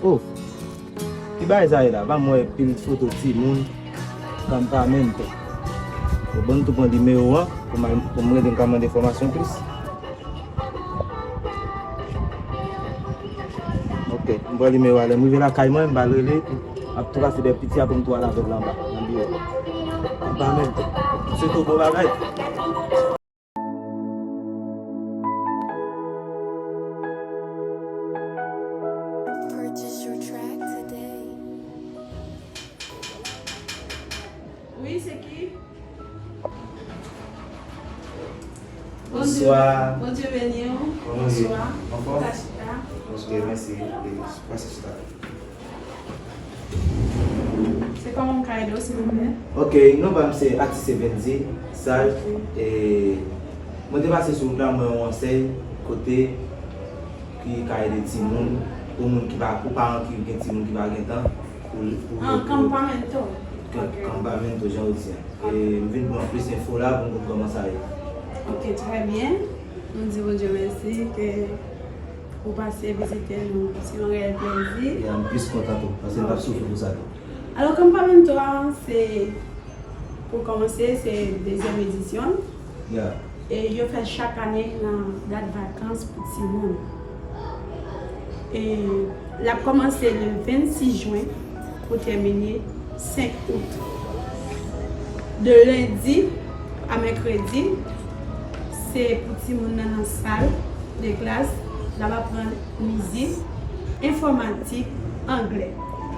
Oh ki bagay sa ye la pa m wè pil foto timoun Campamento Bon m tou pran nimewo an pou m rele m ka mande enfòmasyon plis. Ok m pran nimewo a lèm rive lakay mwen m pral rele pou ap trase bèk piti a poum tou al avèl la anba nan biwo m pa menm se tou bon bagay. Wi se ki. Bonswa. Bondye beni w. Bonswa. Anfòm? Ka chita. Ok mèsi. Pase chita. Se kòman m ka ede w silvouplè? Ok, non pa m se Atise Bendy Sal e mwen te pase sou wout la mwen wè yon ansèy kote ki ka ede timoun pou moun ki pa pou paran ki gen timoun ki pa gen tan. An Campamento. Campamento jan ou di an. M vin pran plis enfo la pou m konn kòman sa ye. Ok trè byen. Nou di Bondye mèsi ke ou pase vizite nou. Se yon reyèl plezi. Ya m plis kontan tou. Pase m pa p soufri pou sa tou. Alò Campamento a se pou kòmanse se dezyèm edisyon l. Yeah. Yo fèl chak ane nan dat vakans pou timoun. Lap kòmanse le 26 jwen pou tèmine 5 out. De lendi a mèkredi se pou timoun nan nan sal de klas lap aprann mizik, enfòmatik, anglè.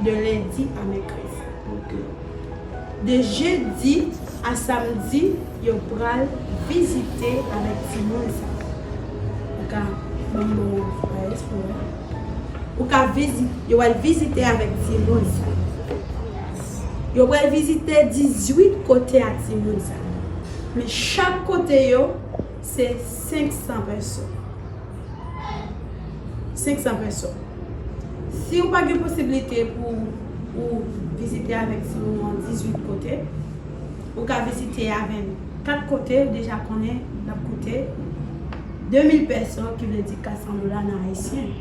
De lendi a mèkredi. Ok. De jedi a samdi yo pral vizite avèk timoun sa yo. Ou ka banm non an fraes pou mwen. Ou ka vizi yo pral vizite avèk timoun sa yo. Yo pral vizite 18 kote a timoun sa yo. Men chak kote yo. Se 500 peso. 500 peso. Si ou pa gen posibilite pou ou vizite avèk ti moun ou an 18 kote, ou ka vizite avèn 4 kote, ou deja konnen l ap koute 2000 peso ki vle di 400 dola nan ayisyen.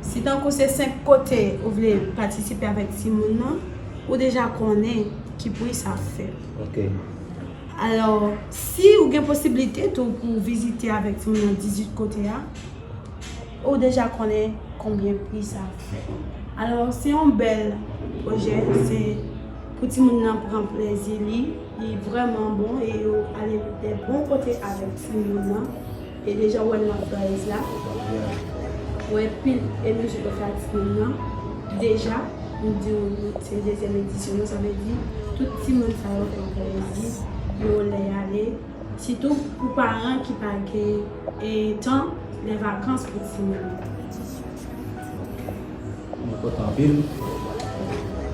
Si tankou se 5 kote ou vle patisipe avèk ti moun nan, ou deja konnen ki pri sa ap fè. Ok. Alò, si ou gen posiblite tou pou ou vizite avèk timoun nan 18 kote a, ou deja konnen konbyen pri sa ap fè. Alò, se yon bèl pwojè, se pou timoun nan pran plezi li, li vrèman bon e yo ale de bon kote avèk timoun nan. E deja wè love buzz la. Wè pil emoji pou fanatik moun nan. Deja m diw se dezyèm edisyon an sa vle di tout timoun sa yo fèm plezi yo lè y ale sitou pou paran ki pa gen tan lè vakans pou timoun yo. Mwen kontan anpil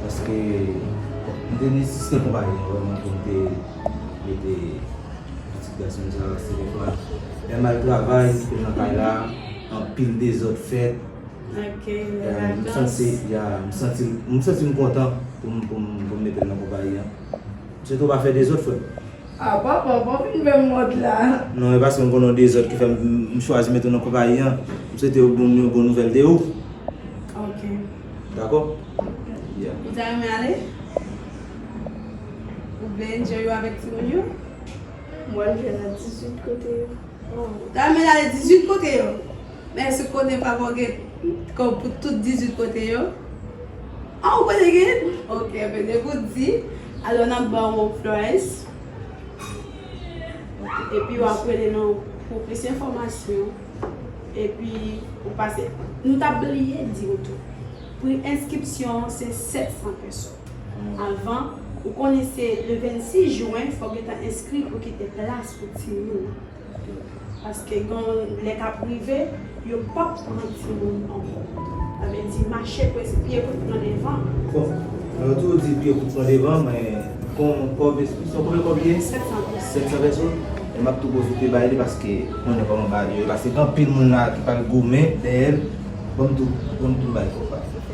paske m te nesesite konpayi an vreman pou m te. Mete pitit gason m sa sere pwa. Pè mal travay kite l nan kay la anpil dezòd fèt. M santi m kontan pou m mete l nan konpayi an. Msye tou pa fè dezòd frè m. A papa pa fin fè m wont la. Non e paske m konnen w dezòd ki fè m chwazi mete w nan konpayi an. M swete w yon bon nouvèl de ou. Ok. Dakò? Ou ta renmen ale? Ou vle enjoy yo avèk timoun yo? M wè l jwenn nan 18 kote yo. Ta renmen l ale 18 kote yo? Men èske w konnen papa w gen kòb pou tout 18 kote yo? A ou konnen gen? Ok, men depi w di, alò n ap ba w yon price. Epi w ap rele nou pou plis enfòmasyon. Epi ou pase. Nou ta bliye di w tou, pri enskripsyon an se 700 peso. Avan ou konnen se le 26 jwen fòk gentan enskri pou kite plas pou timoun nan. Paske gon lè kap rive yo pap pran timoun ankò. Sa vle di mache pou es pye pou t pran devan an. Bon mwen yo toujou di pye pou t pran devan an men kon kòb enskripsyon konbyen kòb li ye? 700 pèso. 700 pèso? E map tou pwofite bay li paske ou konnen kòman bagay yo ye paske anpil moun la ki pral goumen dèyè l. Banm tou banm tou m bay kòb la.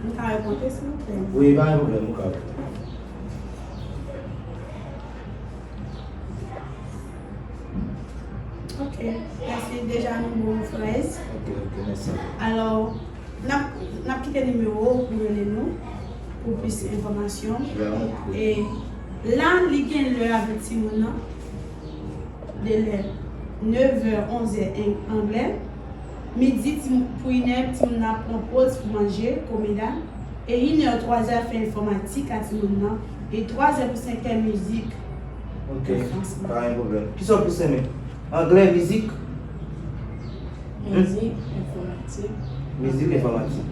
M ka remonte silvouplè? Wi pa gen pwoblèm ou ka remonte. Ok mèsi deja nou bon fraise. Ok ok mèsi. Alò nap kite nimewo ou pou rele nou pou plis enfòmasyon. E la li gen lè avèk timoun nan de lè 9 è 11 è anglè. Midi, ti m pou inè, ti moun nan ap pran poz pou manje, comida, e inè, twazè ap fè enfòmatik a ti moun nan, e twazè pou senkè mizik. Ok, pa gen pwoblèm. Kisa w plis renmen? Anglè, mizik? Mizik, enfòmatik. Mizik, enfòmatik.